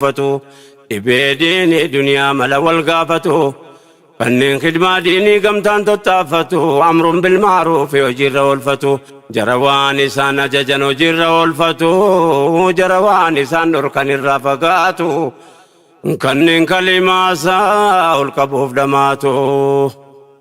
gaafatu Dhibee diinii duniyaa mala wal gaafatu Kanneen khidmaa diinii gamtaan tottaaffatu Amrun bil maaruufi hojiirra oolfatu Jara waan isaan ajajan hojiirra oolfatu Jara waan isaan dhorkan irraa fagaatu Kanneen kalimaa isaa ol qabuuf dhamaatu.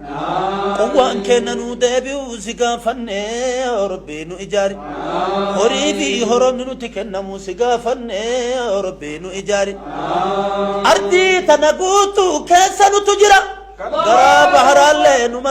Quwwaan keenna nuu deebi'u si gaafanne yaa Rabbi nu ijaari. Horii fi horoonni nutti kennamu si gaafanne yaa Rabbi nu ijaari. Ardii tana guutuu keessa nutu jira. Garaa baharaallee numa.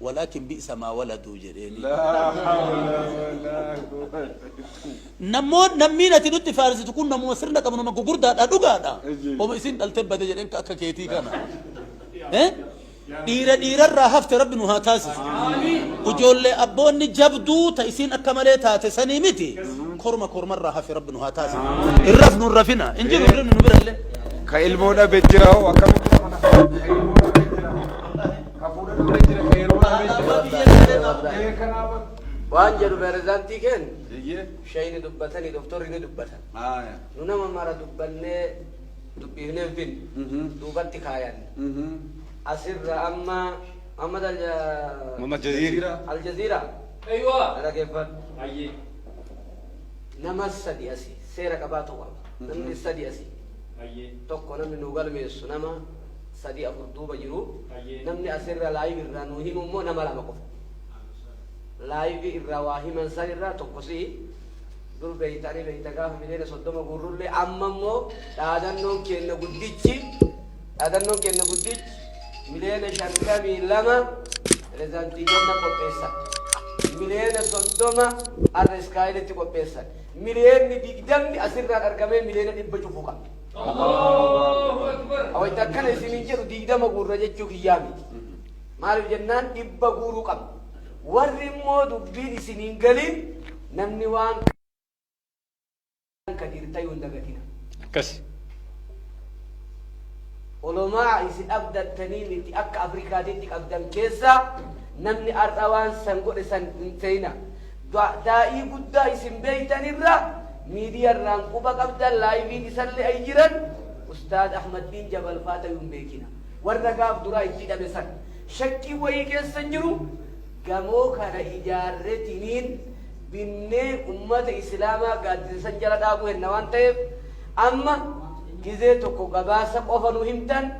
Walakin bi'sa maa waladuu jedheeni. Laa hawla walaa quwwata. Nammoon nammiin ati nutti faarsitu kun namuma sirna qabu nama gugurdaadha dhugaadha. Ajib. Homa isin dhaltee bade jedheen ka akka keetii kana. Eh? Dhiira dhiirarraa hafte rabbi nu haa taasisu. Ijoollee abboonni jabduu ta isiin akka malee taate sanii miti. Korma kormarraa hafe rabbi nu haa taasisu. Hin rafnu hin rafina. Hin jiru hirribni nu birallee. Ka ilmoo dhabe jira hoo akkamitti? waan jedhu pirezidaantii keen shayni dubbatanii doktorri ni dubbatan nu nama mara dubbannee dubbiifnee hin finne duubatti kaayan asirra amma Muhammad Al- Muhammad Jaziira. Aljaziira Eeywa. dhaggeeffadhu Ayyee. nama sadi asi seera qabaatu qaba namni sadi asi Ayyee. tokko namni nu galmeessu nama 3 4 duuba jiru namni asirra live irraa nuu himu immoo nama lama qofa live irraa waa himan san irraa tokko si dur beeyta ani beeyta gaafa miliyoona 30 guurrullee amma immoo dhaadannoon keenna guddichi dhaadannoon keenna guddichi miliyoona 52 pirezidaantii keenna qopheessa miliyoona 30 arra iskaayilitti qopheessan miliyoonni 20 asirraan argamee miliyoona 100 cufu qaba Wayita akkana isiniin jedhu digdama guurra jechuu kiyyaa miti. Maaliif jennaan dhibba guuruu qabna. Warri immoo dubbiin isiniin galiin namni waan kan hirtayuu hin dagatina. Akkasi. Olomaa isin abdattanii miti akka Afrikaatitti qabdan keessaa namni har'a waan san godhe san hin ta'ina. Taa'ii guddaa isin beeytan irra miidiya irraan quba qabdan laayiviin isalle ay jiran ustaaz ahmaddiin jabal faa tayu hin beekina warra gaaf duraa itti dhabe san shakkii wayii keessa hin jiru gamoo kana ijaarretiniin binnee ummata islaamaa gaaddisa san jala dhaabuu henna waan ta'eef amma gizee tokko gabaasa qofa nu himtan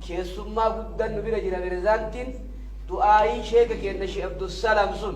keessummaa guddan nu bira jira berezaantiin du'aayii sheeka keenna shi abdusalaam sun